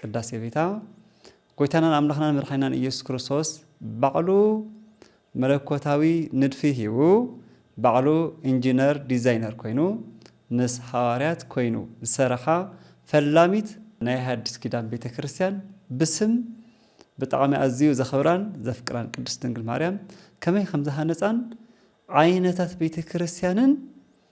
ቅዳሴ ቤታ ጎይታናን ኣምላኽናን መድሓኒናን ኢየሱስ ክርስቶስ ባዕሉ መለኮታዊ ንድፊ ሂቡ ባዕሉ ኢንጂነር ዲዛይነር ኮይኑ ምስ ሃዋርያት ኮይኑ ዝሰረኻ ፈላሚት ናይ ሃዲስ ኪዳን ቤተ ክርስቲያን ብስም ብጣዕሚ ኣዝዩ ዘኽብራን ዘፍቅራን ቅድስት ድንግል ማርያም ከመይ ከምዝሃነጻን ዓይነታት ቤተ ክርስቲያንን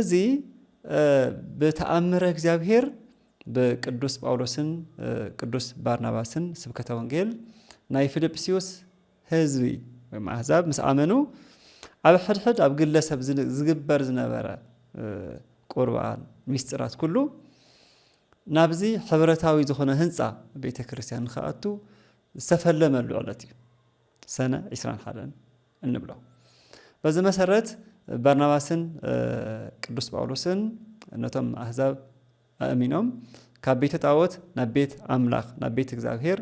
እዚ ብተኣምረ እግዚኣብሔር ብቅዱስ ጳውሎስን ቅዱስ ባርናባስን ስብከተ ወንጌል ናይ ፊልጵስዩስ ህዝቢ ወይ ኣሕዛብ ምስ ኣመኑ ኣብ ሕድሕድ ኣብ ግለሰብ ዝግበር ዝነበረ ቁርባን ሚስጢራት ኩሉ ናብዚ ሕብረታዊ ዝኾነ ህንፃ ቤተ ክርስቲያን ንክኣቱ ዝተፈለመሉ ዕለት እዩ ሰነ ዒስራን ሓደን እንብሎ። በዚ መሰረት በርናባስን ቅዱስ ጳውሎስን ነቶም ኣህዛብ ኣእሚኖም ካብ ቤተ ጣዖት ናብ ቤት ኣምላኽ ናብ ቤት እግዚኣብሔር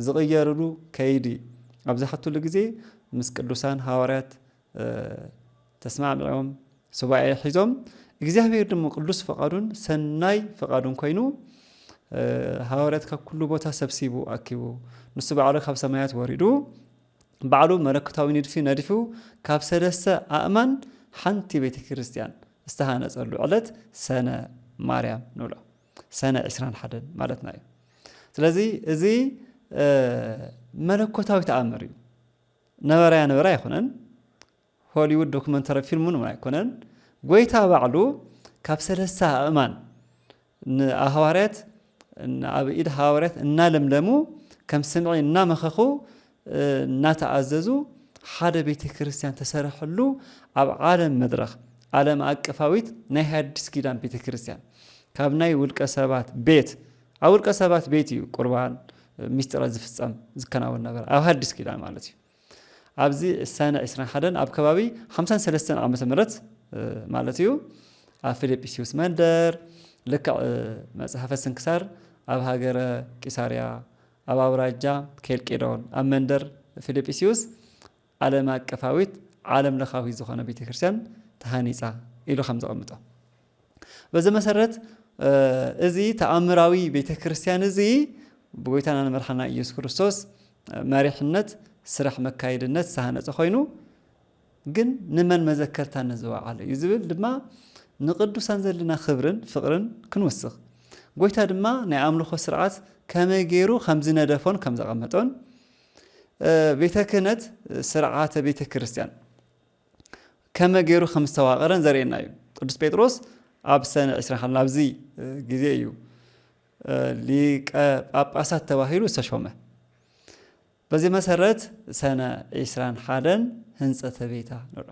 ዝቕየርሉ ከይዲ ኣብ ዝሓትሉ ግዜ ምስ ቅዱሳን ሃዋርያት ተስማዕሚዖም ሱባኤ ሒዞም እግዚኣብሔር ድሞ ቅዱስ ፈቃዱን ሰናይ ፈቃዱን ኮይኑ ሃዋርያት ካብ ኩሉ ቦታ ሰብሲቡ ኣኪቡ ንሱ ባዕሉ ካብ ሰማያት ወሪዱ ባዕሉ መለኮታዊ ንድፊ ነዲፉ ካብ ሰለስተ ኣእማን ሓንቲ ቤተ ክርስቲያን ዝተሃነፀሉ ዕለት ሰነ ማርያም ንብሎ ሰነ 21 ማለትና እዩ ስለዚ እዚ መለኮታዊ ተኣምር እዩ ነበረ ያነበረ ኣይኮነን ሆሊዉድ ዶክመንተሪ ፊልም እውን ኣይኮነን ጎይታ ባዕሉ ካብ ሰለስተ ኣእማን ንሃዋርያት ኣብ ኢድ ሃዋርያት እናለምለሙ ከም ስምዒ እናመኸኹ እናተኣዘዙ ሓደ ቤተ ክርስቲያን ተሰርሐሉ ኣብ ዓለም መድረኽ ዓለም ኣቀፋዊት ናይ ሃዲስ ኪዳን ቤተ ክርስቲያን ካብ ናይ ውልቀ ሰባት ቤት ኣብ ውልቀ ሰባት ቤት እዩ ቁርባን ሚስጢረ ዝፍጸም ዝከናወን ነበረ ኣብ ሃዲስ ኪዳን ማለት እዩ ኣብዚ ሰነ ዕስራን ሓደን ኣብ ከባቢ ሓምሳን ሰለስተን ዓመተ ምህረት ማለት እዩ ኣብ ፊልጵስዩስ መንደር ልክዕ መጽሓፈ ስንክሳር ኣብ ሃገረ ቂሳርያ ኣብ ኣውራጃ ኬልቄዶን ኣብ መንደር ፊልጵስዩስ ዓለም ኣቀፋዊት፣ ዓለም ለኻዊት፣ ዝኾነ ቤተ ክርስቲያን ተሃኒጻ ኢሉ ከም ዘቐምጦ። በዚ መሰረት እዚ ተኣምራዊ ቤተ ክርስቲያን እዚ ብጎይታና ንመድሓና ኢየሱስ ክርስቶስ መሪሕነት ስራሕ መካየድነት ዝተሃነፀ ኮይኑ ግን ንመን መዘከርታነት ዝወዓለ እዩ ዝብል ድማ ንቅዱሳን ዘለና ክብርን ፍቅርን ክንውስኽ ጎይታ ድማ ናይ ኣምልኾ ስርዓት ከመይ ገይሩ ከም ዝነደፎን ከም ዘቐመጦን ቤተ ክህነት ስርዓተ ቤተ ክርስቲያን ከመ ገይሩ ከም ዝተዋቐረን ዘርእየና እዩ። ቅዱስ ጴጥሮስ ኣብ ሰነ 20 ናብዚ ግዜ እዩ ሊቀ ጳጳሳት ተባሂሉ ዝተሾመ። በዚ መሰረት ሰነ 21 ህንፀተ ቤታ ንርኦ።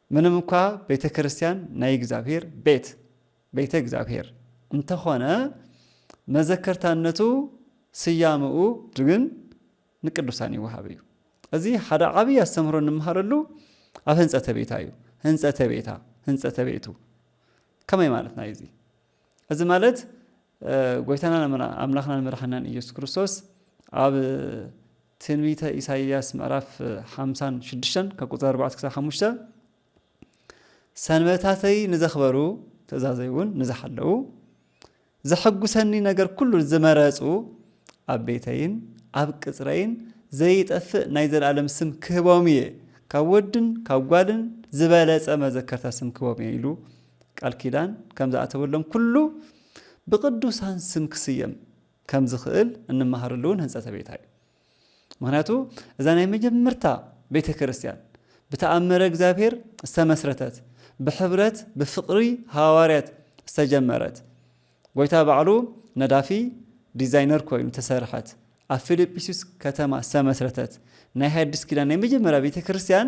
ምንም እኳ ቤተ ክርስቲያን ናይ እግዚኣብሔር ቤት፣ ቤተ እግዚኣብሔር፣ እንተኾነ መዘከርታነቱ ስያመኡ ግን ንቅዱሳን ይወሃብ እዩ። እዚ ሓደ ዓብዪ ኣስተምህሮ እንመሃረሉ ኣብ ህንፀተ ቤታ እዩ። ህንፀተ ቤታ፣ ህንፀተ ቤቱ ከመይ ማለትና እዩ እዚ? እዚ ማለት ጎይታናን ኣምላኽናን መድሓናን ኢየሱስ ክርስቶስ ኣብ ትንቢተ ኢሳይያስ ምዕራፍ ሓምሳን ሽዱሽተን ካብ ቁፅሪ ኣርባዕተ ክሳብ ሓሙሽተ ሰንበታተይ ንዘኽበሩ ትእዛዘይ እውን ንዝሓለዉ ዘሐጉሰኒ ነገር ኩሉ ዝመረፁ ኣብ ቤተይን ኣብ ቅፅረይን ዘይጠፍእ ናይ ዘለኣለም ስም ክህቦም እየ ካብ ወድን ካብ ጓልን ዝበለፀ መዘከርታ ስም ክህቦም እየ ኢሉ ቃል ኪዳን ከም ዝኣተወሎም ኩሉ ብቅዱሳን ስም ክስየም ከም ዝኽእል እንመሃረሉ እውን ህንጸተ ቤታ እዩ። ምክንያቱ እዛ ናይ መጀመርታ ቤተ ክርስቲያን ብተኣምረ እግዚኣብሔር ዝተመስረተት ብሕብረት ብፍቕሪ ሃዋርያት ዝተጀመረት ጎይታ ባዕሉ ነዳፊ ዲዛይነር ኮይኑ ተሰርሐት ኣብ ፊልጵስዩስ ከተማ ዝተመስረተት ናይ ሃዲስ ኪዳን ናይ መጀመርያ ቤተ ክርስቲያን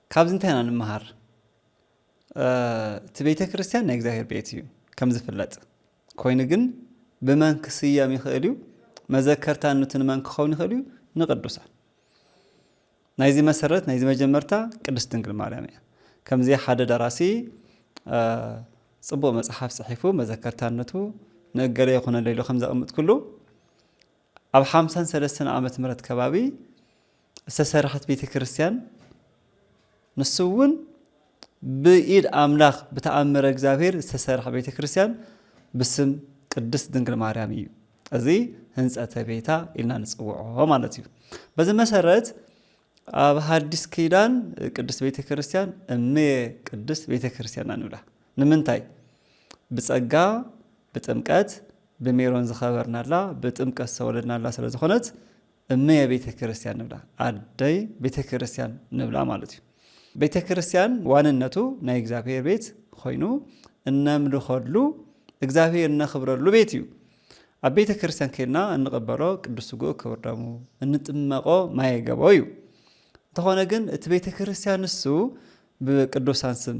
ካብዚ እንታይ ኢና ንምሃር? እቲ ቤተ ክርስቲያን ናይ እግዚኣብሔር ቤት እዩ ከም ዝፍለጥ ኮይኑ ግን ብመን ክስየም ይኽእል እዩ? መዘከርታነቱ ንመን ክኸውን ይኽእል እዩ? ንቅዱሳን ናይዚ መሰረት ናይዚ መጀመርታ ቅድስት ድንግል ማርያም እያ ከምዚ ሓደ ደራሲ ፅቡቅ መፅሓፍ ፅሒፉ መዘከርታነቱ ንእገለ ይኹነለ ኢሉ ከም ዘቕምጥ ኩሉ ኣብ ሓምሳን ሰለስተን ዓመት ምረት ከባቢ ዝተሰረሐት ቤተ ክርስቲያን ንሱ እውን ብኢድ ኣምላኽ ብተኣምረ እግዚኣብሔር ዝተሰርሐ ቤተ ክርስቲያን ብስም ቅድስት ድንግል ማርያም እዩ። እዚ ህንፀተ ቤታ ኢልና ንፅውዖ ማለት እዩ። በዚ መሰረት ኣብ ሓዲስ ኪዳን ቅድስት ቤተ ክርስቲያን እምየ ቅድስት ቤተ ክርስቲያን ኢና ንብላ። ንምንታይ? ብጸጋ ብጥምቀት ብሜሮን ዝኸበርናላ ብጥምቀት ዝተወለድናላ ስለ ዝኾነት እምየ ቤተ ክርስቲያን ንብላ፣ ኣደይ ቤተ ክርስቲያን ንብላ ማለት እዩ። ቤተ ክርስቲያን ዋንነቱ ናይ እግዚኣብሔር ቤት ኮይኑ እነምልኸሉ እግዚኣብሔር እነኽብረሉ ቤት እዩ። ኣብ ቤተ ክርስቲያን ከድና እንቕበሎ ቅዱስ ስጉኡ ክብር ደሙ እንጥመቖ ማየ ገቦ እዩ። እንተኾነ ግን እቲ ቤተ ክርስቲያን ንሱ ብቅዱሳን ስም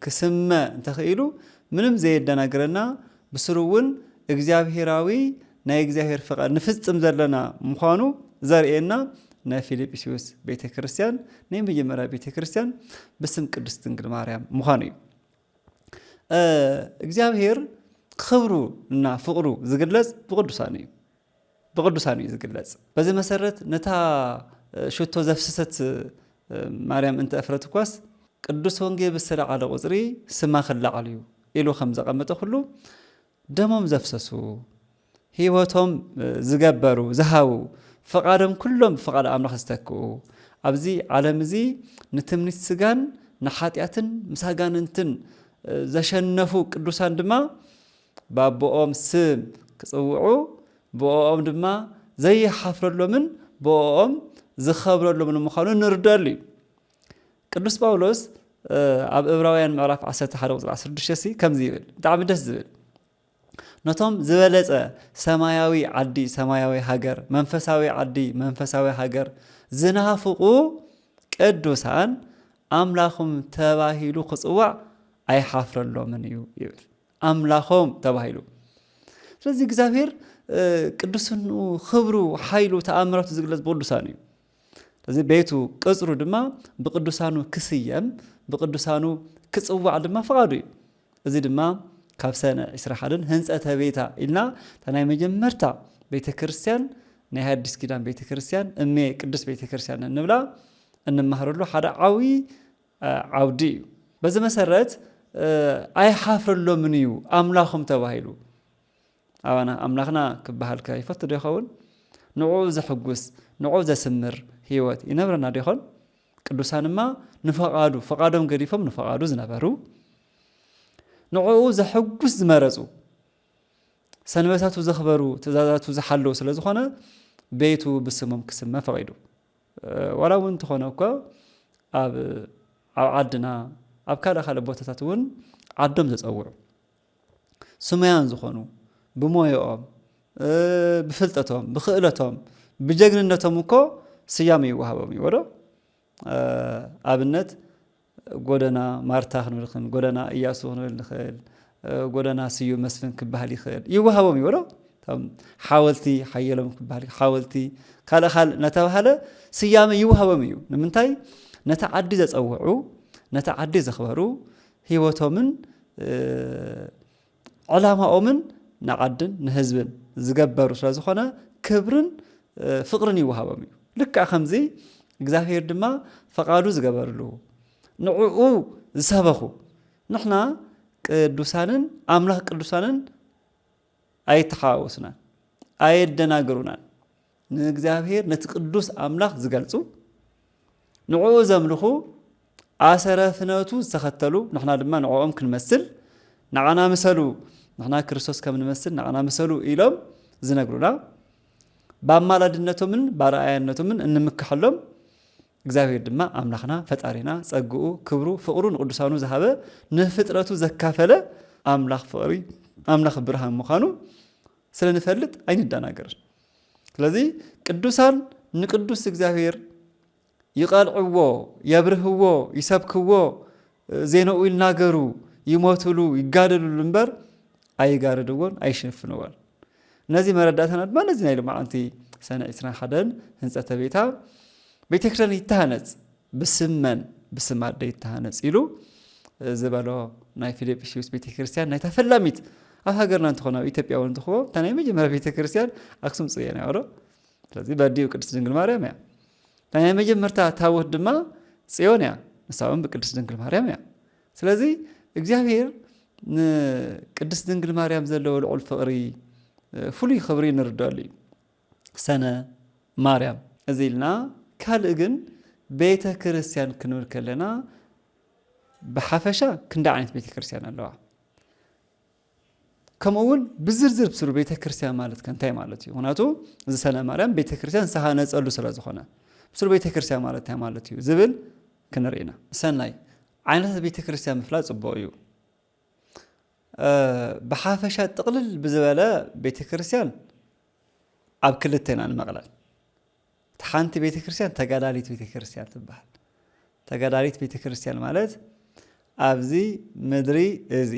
ክስመ እንተኽኢሉ ምንም ዘየደናግረና ብስሩ እውን እግዚኣብሄራዊ ናይ እግዚኣብሄር ፍቓድ ንፍጽም ዘለና ምዃኑ ዘርእየና ናይ ፊልጵስዩስ ቤተ ክርስቲያን ናይ መጀመርያ ቤተ ክርስቲያን ብስም ቅድስት ድንግል ማርያም ምዃኑ እዩ እግዚኣብሄር ክብሩ እና ፍቕሩ ዝግለጽ ብቕዱሳኑ እዩ ብቕዱሳኑ እዩ ዝግለጽ በዚ መሰረት ነታ ሽቶ ዘፍሰሰት ማርያም እንተ እፍረት እኳስ ቅዱስ ወንጌ ብዝተላዓለ ቁፅሪ ስማ ክላዓል እዩ ኢሉ ከም ዘቐመጠ ኩሉ ደሞም ዘፍሰሱ፣ ህይወቶም ዝገበሩ፣ ዝሃቡ፣ ፍቓዶም ኩሎም ብፍቓድ ኣምላኽ ዝተክኡ፣ ኣብዚ ዓለም እዚ ንትምኒት ስጋን ንሓጢኣትን ምስ ኣጋንንትን ዘሸነፉ ቅዱሳን ድማ ባቦኦም ስም ክጽውዑ ብኦኦም ድማ ዘይሓፍረሎምን ብኦኦም ዝኸብረሎምን ምዃኑ ንርደኣሉ እዩ። ቅዱስ ጳውሎስ ኣብ እብራውያን ምዕራፍ 11 ቁፅሪ 16 ሲ ከምዚ ይብል ብጣዕሚ ደስ ዝብል ነቶም ዝበለጸ ሰማያዊ ዓዲ ሰማያዊ ሃገር መንፈሳዊ ዓዲ መንፈሳዊ ሃገር ዝናፍቑ ቅዱሳን ኣምላኹም ተባሂሉ ክጽዋዕ ኣይሓፍረሎምን እዩ ይብል ኣምላኾም ተባሂሉ ስለዚ እግዚኣብሔር ቅዱስኑ ክብሩ ሓይሉ ተኣምራቱ ዝግለጽ ብቅዱሳን እዩ እዚ ቤቱ ቅጽሩ ድማ ብቅዱሳኑ ክስየም ብቅዱሳኑ ክጽዋዕ ድማ ፍቓዱ እዩ። እዚ ድማ ካብ ሰነ ዒስራ ሓደን ህንጸተ ቤታ ኢልና እታ ናይ መጀመርታ ቤተ ክርስቲያን ናይ ሃዲስ ኪዳን ቤተ ክርስቲያን እሜ ቅድስት ቤተ ክርስቲያን እንብላ እንማሃረሉ ሓደ ዓብዪ ዓውዲ እዩ። በዚ መሰረት ኣይሓፍረሎምን እዩ ኣምላኾም ተባሂሉ። ኣባና ኣምላኽና ክበሃልከ ይፈቱዶ ይኸውን? ንዕኡ ዘሕጉስ፣ ንዕኡ ዘስምር ህይወት ይነብረና ዶይኾን? ቅዱሳንማ ንፈቓዱ፣ ፈቓዶም ገዲፎም ንፈቓዱ ዝነበሩ፣ ንዕኡ ዘሕጉስ ዝመረጹ፣ ሰንበታቱ ዘኽበሩ፣ ትእዛዛቱ ዝሓለዉ ስለ ዝኾነ ቤቱ ብስሞም ክስመ ፈቒዱ። ዋላ እውን እንተኾነ እኮ ኣብ ዓድና ኣብ ካልእ ካልእ ቦታታት እውን ዓዶም ዘፀውዑ ስሙያን ዝኾኑ ብሞየኦም ብፍልጠቶም ብክእለቶም ብጀግንነቶም እኮ ስያመ ይወሃቦም እዩ ወዶ ኣብነት ጎደና ማርታ ክንብልክን ጎደና እያሱ ክንብል ንኽእል ጎደና ስዩ መስፍን ክበሃል ይኽእል ይወሃቦም እዩ ወዶ ሓወልቲ ሓየሎም ክበሃል ሓወልቲ ካልእ ካልእ እናተባሃለ ስያመ ይወሃቦም እዩ ንምንታይ ነቲ ዓዲ ዘፀውዑ ነቲ ዓዲ ዘኽበሩ ህይወቶምን ዕላማኦምን ንዓድን ንህዝብን ዝገበሩ ስለ ዝኾነ ክብርን ፍቕርን ይወሃቦም እዩ ልክዕ ከምዚ እግዚኣብሄር ድማ ፈቓዱ ዝገበርሉ ንዕኡ ዝሰበኹ ንሕና ቅዱሳንን ኣምላኽ ቅዱሳንን ኣይተሓዋወሱናን፣ ኣየደናገሩናን። ንእግዚኣብሔር ነቲ ቅዱስ ኣምላኽ ዝገልጹ ንዕኡ ዘምልኹ ኣሰረ ፍነቱ ዝተኸተሉ ንሕና ድማ ንዕኦም ክንመስል ንዓና ምሰሉ ንሕና ክርስቶስ ከም ንመስል ንዓና ምሰሉ ኢሎም ዝነግሩና ብኣማላድነቶምን ባረኣያነቶምን እንምክሐሎም እግዚኣብሄር ድማ ኣምላኽና ፈጣሪና ጸግኡ ክብሩ ፍቕሩ ንቕዱሳኑ ዝሃበ ንፍጥረቱ ዘካፈለ ኣምላኽ ፍቕሪ ኣምላኽ ብርሃን ምዃኑ ስለ ንፈልጥ ኣይንደናገር ስለዚ ቅዱሳን ንቅዱስ እግዚኣብሄር ይቐልዕዎ የብርህዎ ይሰብክዎ ዜንኡ ይናገሩ፣ ይሞቱሉ፣ ይጋደሉሉ እምበር ኣይጋርድዎን፣ ኣይሸፍንዎን። ነዚ መረዳእታና ድማ ነዚ ናይ ሎማዓንቲ ሰነ ዕስራን ሓደን ህንፀተ ቤታ ቤተክርስትያን ይተሃነፅ ብስም መን ብስም ኣደ ይተሃነፅ ኢሉ ዝበሎ ናይ ፊልጵስዩስ ቤተ ክርስቲያን ናይታ ፈላሚት ኣብ ሃገርና እንትኾነ ኣብ ኢትዮጵያ እውን እንትኾ እታ ናይ መጀመርያ ቤተ ክርስቲያን ኣክሱም ፅዮን እያ ዶ ስለዚ በዲኡ ቅድስት ድንግል ማርያም እያ ናይ መጀመርታ ታቦት ድማ ፅዮን እያ፣ ንሳ እውን ብቅድስት ድንግል ማርያም እያ። ስለዚ እግዚኣብሄር ንቅድስት ድንግል ማርያም ዘለዎ ልዑል ፍቕሪ ፍሉይ ክብሪ ንርደሉ እዩ። ሰነ ማርያም እዚ ኢልና ካልእ ግን ቤተ ክርስቲያን ክንብል ከለና ብሓፈሻ ክንደ ዓይነት ቤተ ክርስቲያን ኣለዋ? ከምኡ እውን ብዝርዝር ብስሩ ቤተ ክርስቲያን ማለት ከ እንታይ ማለት እዩ? ምክንያቱ እዚ ሰነ ማርያም ቤተ ክርስቲያን ዝተሃነፀሉ ስለ ዝኾነ ብስሩ ቤተ ክርስቲያን ማለት እንታይ ማለት እዩ ዝብል ክንርኢ ኢና። ሰናይ ዓይነታት ቤተ ክርስቲያን ምፍላጥ ፅቡቕ እዩ። ብሓፈሻ ጥቕልል ብዝበለ ቤተ ክርስቲያን ኣብ ክልተ ኢና ንመቕለል። እቲ ሓንቲ ቤተ ክርስቲያን ተጋዳሊት ቤተ ክርስቲያን ትበሃል። ተጋዳሊት ቤተ ክርስቲያን ማለት ኣብዚ ምድሪ እዚ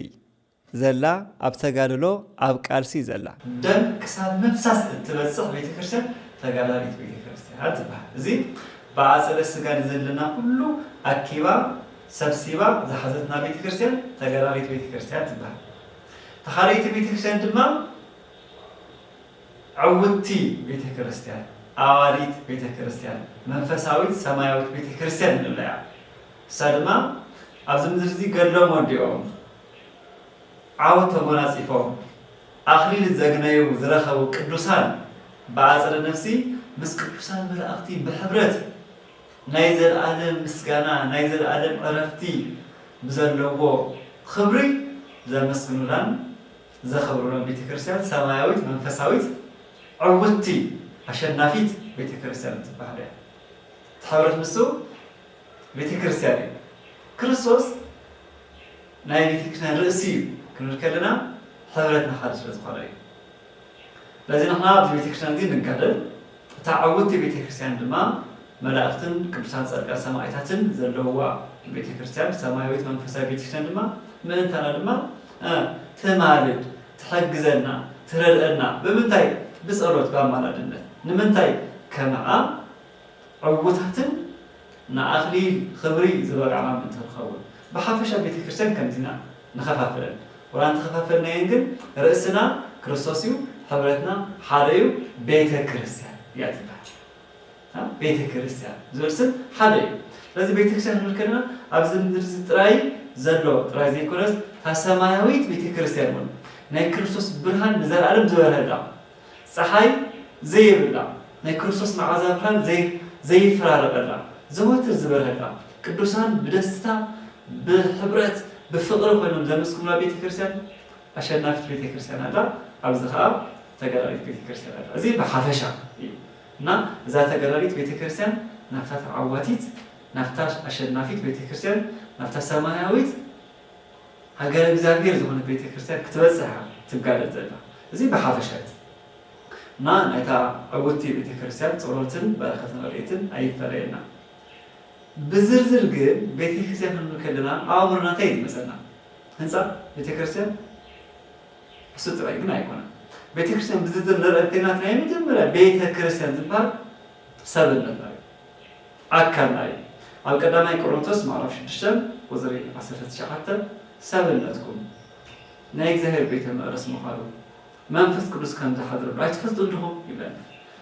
ዘላ ኣብ ተጋድሎ ኣብ ቃልሲ ዘላ ደም ክሳብ ምፍሳስ እትበፅሕ ቤተ ክርስቲያን ተጋዳሊት ቤተ ክርስቲያን ትበሃል። እዚ ብኣፀደ ስጋ ንዘለና ኩሉ ኣኪባ ሰብሲባ ዝሓዘትና ቤተ ክርስቲያን ተጋዳሊት ቤተ ክርስቲያን ትበሃል። ተኻለይቲ ቤተ ክርስቲያን ድማ ዕውትቲ ቤተ ክርስቲያን፣ ኣዋዲት ቤተ ክርስቲያን፣ መንፈሳዊት ሰማያዊት ቤተ ክርስቲያን ንብላ እያ። ንሳ ድማ ኣብዚ ምድሪ እዚ ገድሎም ወዲኦም፣ ዓወት ተጎናጺፎም፣ ኣኽሊል ዘግነዩ ዝረኸቡ ቅዱሳን ብኣጸደ ነፍሲ ምስ ቅዱሳን መላእኽቲ ብሕብረት ናይ ዘለኣለም ምስጋና ናይ ዘለኣለም ዕረፍቲ ብዘለዎ ኽብሪ ዘመስግኑላን ዘኽብሩለን ቤተ ክርስቲያን ሰማያዊት መንፈሳዊት ዕውትቲ ኣሸናፊት ቤተ ክርስቲያን እትበሃል እያ። እቲ ሕብረት ንሱ ቤተ ክርስቲያን እዩ። ክርስቶስ ናይ ቤተ ክርስቲያን ርእሲ እዩ ክንብል ከለና ሕብረት ንሓደ ስለ ዝኾነ እዩ። ስለዚ ንሕና ኣብዚ ቤተ ክርስቲያን እዚ ንጋደል፣ እታ ዕውቲ ቤተ ክርስቲያን ድማ መላእኽትን ቅዱሳን ጻድቃን ሰማኢታትን ዘለዉዋ ቤተ ክርስቲያን ሰማያዊት መንፈሳዊት ቤተ ክርስቲያን ድማ ምእንታና ድማ እ ትማልድ ትሕግዘና ትረድእና ብምንታይ ብጸሎት ብኣማላድነት ንምንታይ ከምኣ ዕውታትን ንኣኽሊል ኽብሪ ዝበቃዕና ምእንቲ ንኸውን ብሓፈሻ ቤተ ክርስቲያን ከምዚና ንኸፋፍለን ወላ እንተኸፋፈልናየን ግን ርእስና ክርስቶስ እዩ ሕብረትና ሓደ እዩ ቤተ ክርስትያን እያ ትበሃል ቤተ ክርስትያን ዝብል ስም ሓደ እዩ ስለዚ ቤተ ክርስትያን ክንብል ከለና ኣብዚ ምድሪ ጥራይ ዘሎ ጥራይ ዘይኮነስ እታ ሰማያዊት ቤተ ክርስትያን እውን ናይ ክርስቶስ ብርሃን ንዘለኣለም ዝበርሀላ ጸሓይ ዘይብላ፣ ናይ ክርስቶስ መዓዛ ብርሃን ዘይፈራረቐላ፣ ዘወትር ዝበርሀላ፣ ቅዱሳን ብደስታ፣ ብሕብረት፣ ብፍቕሪ ኮይኖም ዘመስግኑላ ቤተ ክርስቲያን ኣሸናፊት ቤተ ክርስቲያን ኣላ። ኣብዚ ከኣ ተጋዳሊት ቤተ ክርስቲያን ኣላ። እዚ ብሓፈሻ እዩ እና እዛ ተጋዳሊት ቤተ ክርስቲያን ናብታ ተዓዋቲት፣ ናብታ ኣሸናፊት ቤተ ክርስቲያን፣ ናብታ ሰማያዊት ሃገረ እግዚኣብሔር ዝኾነት ቤተ ክርስቲያን ክትበጽሕ እያ ትጋደል ዘላ። እዚ ብሓፈሻ እቲ። እና ናይታ ዕውቲ ቤተ ክርስቲያን ጸሎትን በረከትን ረድኤትን ኣይፈለየና። ብዝርዝር ግን ቤተ ክርስቲያን ክንብል ከለና ኣብ ኣእምሮና እንታይ እዩ ዝመጸና? ህንጻ ቤተ ክርስቲያን እሱ ጥራይ ግን ኣይኮነን። ቤተ ክርስቲያን ብዝርዝር ንርኣ እንተይልና እቲ ናይ መጀመርያ ቤተ ክርስቲያን ዝበሃል ሰብነትና እዩ። ኣካል ኣዩ ኣብ ቀዳማይ ቆሮንቶስ ምዕራፍ ሽዱሽተ ቁጽሪ ዓሰርተ ትሽዓተ ሰብነትኩም ናይ እግዚኣብሔር ቤተ መቅደስ ምዃኑ መንፈስ ቅዱስ ከም ዝሓድረሉ ኣይትፈልጡን ድኹም ይብለና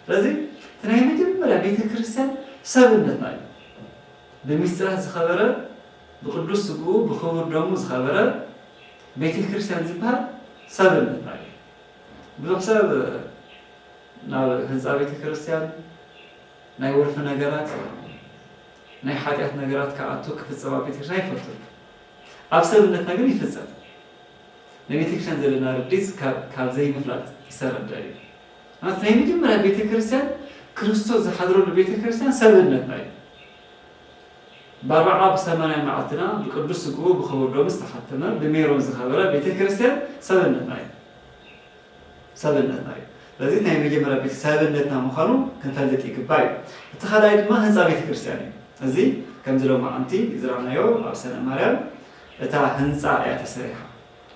ስለዚ እቲ ናይ መጀመርያ ቤተ ክርስትያን ሰብነትና እዩ ብምስጢራት ዝኸበረ ብቅዱስ ስግኡ ብክቡር ደሙ ዝኸበረ ቤተ ክርስትያን ዝበሃል ሰብነትና እዩ ብዙሕ ሰብ ናብ ህንጻ ቤተ ክርስትያን ናይ ወልፊ ነገራት ናይ ሓጢኣት ነገራት ክኣቱ ክፍጸም ኣብ ቤተክርስትያን ኣይፈቱን ኣብ ሰብነትና ግን ይፍጸም ንቤተክርስትያን ዘለና ርዲጽ ካብ ዘይምፍላጥ ዝተረዳ እዩ ማለት ናይ መጀመርያ ቤተክርስትያን ክርስቶስ ዝሓድረሉ ቤተክርስትያን ሰብነትና እዩ በርዓ ብሰማንያ መዓልትና ብቅዱስ ስግኡ ብክቡር ዶም ዝተሓተመ ብሜሮን ዝኸበረ ቤተ ክርስቲያን ሰብነትና እዩ ሰብነትና እዩ። ስለዚ ናይ መጀመርያ ቤት ሰብነትና ምዃኑ ክንፈልጥ ይግባእ እዩ። እቲ ካልኣይ ድማ ህንጻ ቤተ ክርስቲያን እዩ። እዚ ከምዚ ሎማዓንቲ ዝራኣናዮ ኣብ ሰነ ማርያም እታ ህንጻ እያ ተሰሪሓ።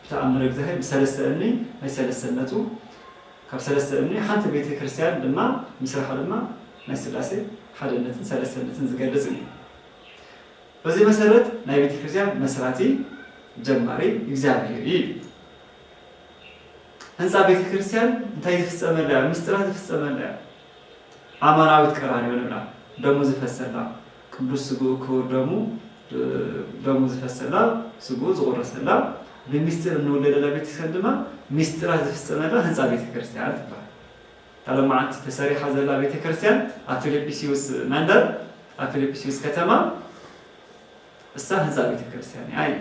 ብተኣምር እግዚኣሄር ብሰለስተ እምኒ ናይ ሰለስተነቱ ካብ ሰለስተ እምኒ ሓንቲ ቤተ ክርስቲያን ድማ ምስራሓ ድማ ናይ ስላሴ ሓደነትን ሰለስተነትን ዝገልጽ እዩ። በዚ መሰረት ናይ ቤተ ክርስቲያን መስራቲ ጀማሪ እግዚኣቢሄር እዩ። ህንጻ ቤተ ክርስቲያን እንታይ ዝፍጸመላ እያ ምስጢራ ዝፍጸመላ እያ ኣማናዊት ቀራንዮ ንብላ ደሙ ዝፈሰላ ቅዱስ ስግኡ ክቡር ደሙ ደሙ ዝፈሰላ ስግኡ ዝቑረሰላ ብምስጢር እንውለደላ ቤተ ክርስቲያን ድማ ምስጢራ ዝፍጸመላ ህንጻ ቤተ ክርስቲያን ትባሃል ተለማዓንቲ ተሰሪሓ ዘላ ቤተ ክርስቲያን ኣብ ፊልጵስዩስ መንደር ኣብ ፊልጵስዩስ ከተማ እሳ ህንፃ ቤተ ክርስቲያን እያ እዩ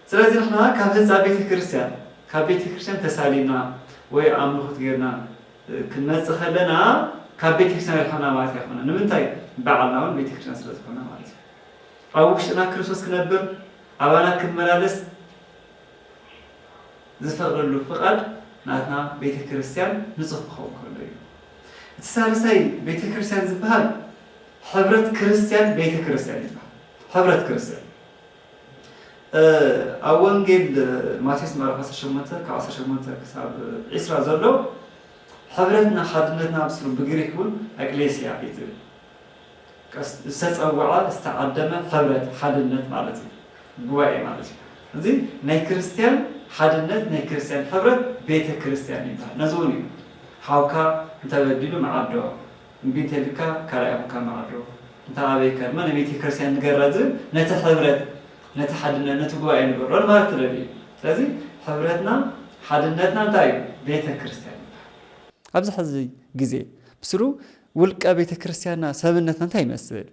ስለዚ ንሕና ካብ ህንጻ ቤተ ክርስቲያን ካብ ቤተ ክርስቲያን ተሳሊምና ወይ ኣምልኹት ጌርና ክንመጽእ ከለና ካብ ቤተ ክርስቲያን ሪሕቕና ማለት ኣይኮነን። ንምንታይ ባዕልና እውን ቤተ ክርስቲያን ስለ ዝኾና ማለት እዩ። ኣብ ውሽጥና ክርስቶስ ክነብር ኣባና ክመላለስ ዝፈቕደሉ ፍቓድ ናትና ቤተ ክርስቲያን ንጹህ ክኸውን ከሎ እዩ። እቲ ሳልሳይ ቤተ ክርስቲያን ዝበሃል ሕብረት ክርስቲያን ቤተ ክርስቲያን ይበሃል። ሕብረት ክርስቲያን ኣብ ወንጌል ማቴዎስ ምዕራፍ ዓሰርተ ሸሞንተ ካብ ዓሰርተ ሸሞንተ ክሳብ ዒስራ ዘሎ ሕብረትና ሓድነትና ኣብስሩ ብግሪክ እውን ኣቅሌስያ እዩ ዝብል ዝተፀወዐ ዝተዓደመ ሕብረት ሓድነት ማለት እዩ ጉባኤ ማለት እዩ እዚ ናይ ክርስትያን ሓድነት ናይ ክርስትያን ሕብረት ቤተ ክርስትያን ይበሃል ነዚ እውን እዩ ሓውካ እንተበዲሉ መዓዶ እምቢ እንተልካ ካልኣይ ኮንካ መዓዶ እንታ ኣበይ ከርማ ንቤቴክርስትያን ንገራ ዝብል ነቲ ሕብረት ነቲ ሓድነት ነቲ ጉባኤ ንገሮ ንማለት ተደልዩ እዩ ስለዚ ሕብረትና ሓድነትና እንታይ እዩ ቤተክርስትያን ይበሃል። ኣብዚ ሕዚ ግዜ ብስሩ ውልቀ ቤተክርስትያንና ሰብነትና እንታይ ይመስል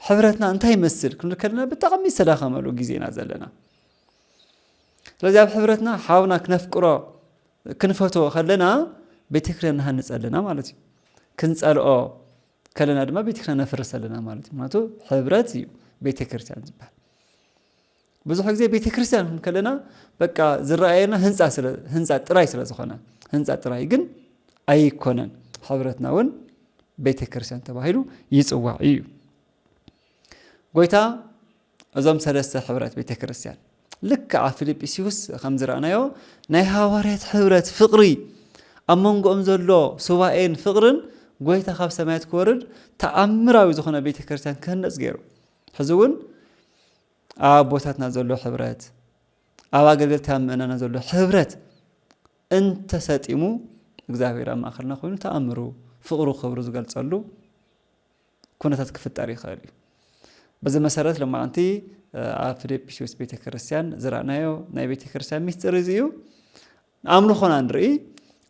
ሕብረትና እንታይ ይመስል ክንብል ከለና ብጣዕሚ ዝተዳኸመሉ ግዜ ኢና ዘለና ስለዚ ኣብ ሕብረትና ሓውና ክነፍቅሮ ክንፈትዎ ከለና ቤተክርስትያን ንሃንጽ ኣለና ማለት እዩ። ክንጸልኦ ከለና ድማ ቤተክርስትያን ነፍርስ ኣለና ማለት እዩ። ምክንያቱ ሕብረት እዩ ቤተክርስትያን ዝበሃል። ብዙሕ ግዜ ቤተክርስትያን ከለና በቃ ዝረኣየና ህንፃ ጥራይ ስለ ዝኾነ ህንፃ ጥራይ ግን ኣይኮነን። ሕብረትና እውን ቤተክርስትያን ተባሂሉ ይፅዋዕ እዩ። ጎይታ እዞም ሰለስተ ሕብረት ቤተ ክርስቲያን ልክዕ ኣብ ፊልጵስዩስ ከም ዝረኣናዮ ናይ ሃዋርያት ሕብረት ፍቕሪ ኣብ መንጎኦም ዘሎ ሱባኤን ፍቕርን ጎይታ ካብ ሰማያት ክወርድ ተኣምራዊ ዝኾነ ቤተ ክርስቲያን ክህነፅ ገይሩ ሕዚ እውን ኣብ ኣቦታትና ዘሎ ሕብረት ኣብ ኣገልገልታ ምእናና ዘሎ ሕብረት እንተሰጢሙ እግዚኣብሔር ኣብ ማእኸልና ኮይኑ ተኣምሩ ፍቕሩ ክብሩ ዝገልፀሉ ኩነታት ክፍጠር ይኽእል እዩ። በዚ መሰረት ሎማዕንቲ ኣብ ፍልጵስዩስ ቤተ ክርስቲያን ዝረእናዮ ናይ ቤተ ክርስቲያን ሚስጢር እዚ እዩ። ኣምልኾና ንርኢ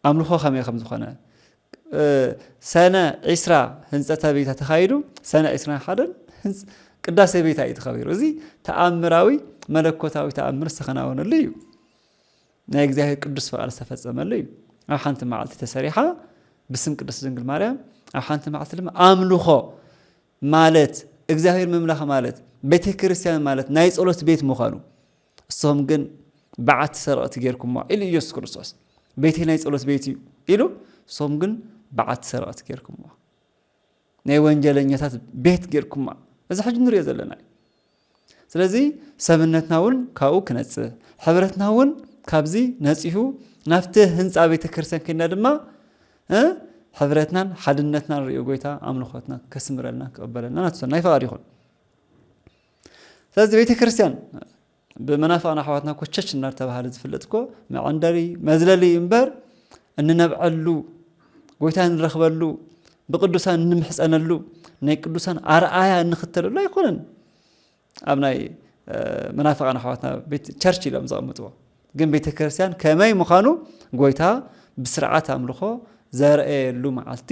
ኣምልኾ ከመይ ከም ዝኾነ ሰነ ዒስራ ህንፀተ ቤታ ተኻይዱ ሰነ ዒስራ ሓደን ቅዳሴ ቤታ እዩ ተኸቢሩ። እዚ ተኣምራዊ መለኮታዊ ተኣምር ዝተኸናወነሉ እዩ። ናይ እግዚኣብሔር ቅዱስ ፍቓድ ዝተፈጸመሉ እዩ። ኣብ ሓንቲ መዓልቲ ተሰሪሓ ብስም ቅድስት ድንግል ማርያም፣ ኣብ ሓንቲ መዓልቲ ድማ ኣምልኾ ማለት እግዚኣብሔር ምምላኽ ማለት ቤተ ክርስቲያን ማለት ናይ ጸሎት ቤት ምዃኑ እሶም ግን በዓቲ ሰረቕቲ ጌርኩሞ ኢሉ ኢየሱስ ክርስቶስ ቤተይ ናይ ጸሎት ቤት እዩ ኢሉ እሶም ግን በዓቲ ሰረቕቲ ጌርኩሞ ናይ ወንጀለኛታት ቤት ጌርኩማ እዚ ሕጂ ንሪኦ ዘለና እዩ ስለዚ ሰብነትና እውን ካብኡ ክነጽህ ሕብረትና እውን ካብዚ ነጺሁ ናብቲ ህንፃ ቤተ ክርስቲያን ከድና ድማ ሕብረትናን ሓድነትናን ሪኦ ጎይታ ኣምልኾትና ከስምረልና ክቕበለልና ናትሰናይ ፈቓድ ይኹን ስለዚ ቤተ ክርስቲያን ብመናፍቓን ኣሕዋትና ኮቸች እናተባህለ ዝፍለጥ እኮ መዐንደሪ መዝለሊ እዩ እምበር እንነብዐሉ ጎይታ እንረኽበሉ ብቅዱሳን እንምሕፀነሉ ናይ ቅዱሳን ኣርኣያ እንኽተለሉ ኣይኮነን ኣብ ናይ መናፍቃን ኣሕዋትና ቤት ቸርች ኢሎም ዘቐምጥዎ ግን ቤተ ክርስቲያን ከመይ ምዃኑ ጎይታ ብስርዓት ኣምልኾ ዘርአየሉ መዓልቲ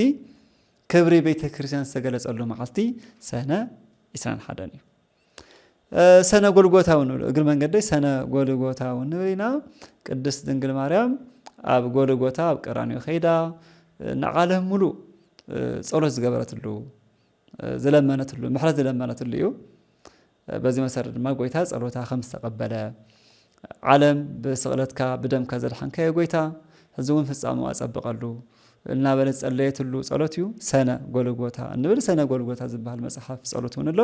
ክብሪ ቤተ ክርስቲያን ዝተገለጸሉ መዓልቲ ሰነ 21 እዩ ሰነ ጎልጎታ እውን ንብሎ እግሪ መንገደይ ሰነ ጎልጎታ እውን ንብል ኢና ቅድስት ድንግል ማርያም ኣብ ጎልጎታ ኣብ ቀራንዮ ከይዳ ንዓለም ሙሉእ ጸሎት ዝገበረትሉ ዝለመነትሉ ምሕረት ዝለመነትሉ እዩ በዚ መሰረት ድማ ጎይታ ጸሎታ ከም ዝተቐበለ ዓለም ብስቕለትካ ብደምካ ዘድሓንካዮ ጎይታ ሕዚ እውን ፍጻምኡ ኣጸብቐሉ እናበለት ዝጸለየትሉ ጸሎት እዩ ሰነ ጎልጎታ እንብል ሰነ ጎልጎታ ዝበሃል መጽሓፍ ጸሎት እውን ኣሎ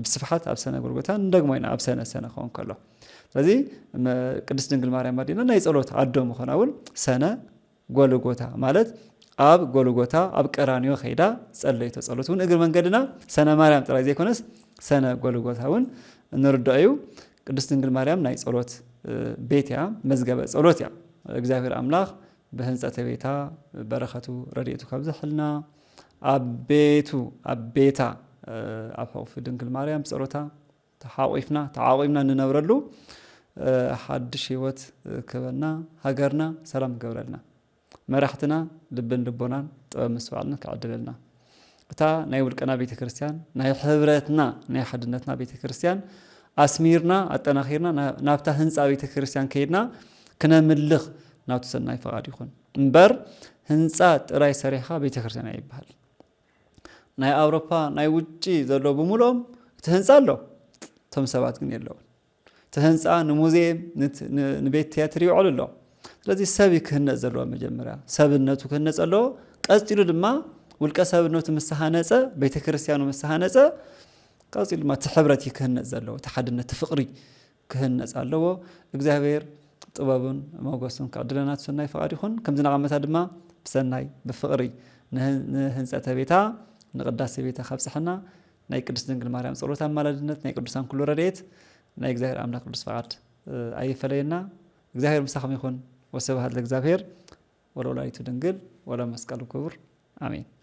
ብስፍሓት ኣብ ሰነ ጎልጎታ ንደግሞ ኢና ኣብ ሰነ ሰነ ክኸውን ከሎ ስለዚ ቅድስት ድንግል ማርያም ኣዴና ናይ ጸሎት ኣዶ ምኾና እውን ሰነ ጎልጎታ ማለት ኣብ ጎልጎታ ኣብ ቀራንዮ ከይዳ ዝጸለይቶ ጸሎት እውን እግሪ መንገድና ሰነ ማርያም ጥራይ ዘይኮነስ ሰነ ጎልጎታ እውን እንርድኦ እዩ። ቅድስት ድንግል ማርያም ናይ ጸሎት ቤት እያ፣ መዝገበ ጸሎት እያ። እግዚኣብሔር ኣምላኽ ብህንጸተ ቤታ በረከቱ ረድኤቱ ካብ ዘሕልና ኣብ ቤቱ ኣብ ቤታ ኣብ ሕቑፊ ድንግል ማርያም ብጸሎታ ተሓቚፍና ተዓቂብና እንነብረሉ ሓድሽ ሂወት ክህበና ሃገርና ሰላም ክገብረልና መራሕትና ልብን ልቦናን ጥበብ ምስትውዓልን ክዕድለልና እታ ናይ ውልቀና ቤተ ክርስቲያን ናይ ሕብረትና ናይ ሓድነትና ቤተ ክርስቲያን ኣስሚርና ኣጠናኺርና ናብታ ህንፃ ቤተ ክርስቲያን ከይድና ክነምልኽ ናቱ ሰናይ ፈቓድ ይኹን እምበር ህንፃ ጥራይ ሰሪሕኻ ቤተ ክርስቲያን ኣይበሃል ናይ ኣውሮፓ ናይ ውጪ ዘሎ ብምልኦም እቲ ህንፃ ኣሎ እቶም ሰባት ግን የለውን እቲ ህንፃ ንሙዚየም ንቤት ትያትር ይውዕሉ ኣሎ ስለዚ ሰብ እዩ ክህነፅ ዘለዎ መጀመርያ ሰብነቱ ክህነፅ ኣለዎ ቀፂሉ ድማ ውልቀ ሰብነቱ ምስ ሃነፀ ቤተ ክርስቲያኑ ምስ ሃነፀ ቀፂሉ ድማ እቲ ሕብረት እዩ ክህነፅ ዘለዎ እቲ ሓድነት ፍቕሪ ክህነጽ ኣለዎ እግዚኣብሔር ጥበቡን ሞገሱን ክዕድለና ትሰናይ ፍቓድ ይኹን ከምዚ ናቐመታ ድማ ብሰናይ ብፍቕሪ ንህንጸተ ቤታ ንቅዳሴ ቤታ ካብጽሐና ናይ ቅድስት ድንግል ማርያም ጸሎት ኣማላድነት ናይ ቅዱሳን ኩሉ ረድኤት ናይ እግዚኣብሔር ኣምላክ ቅዱስ ፍቓድ ኣይፈለየና እግዚኣብሔር ምሳኹም ይኹን ወስብሃት ለእግዚኣብሔር ወለወላዲቱ ድንግል ወለመስቀሉ ክቡር ኣሜን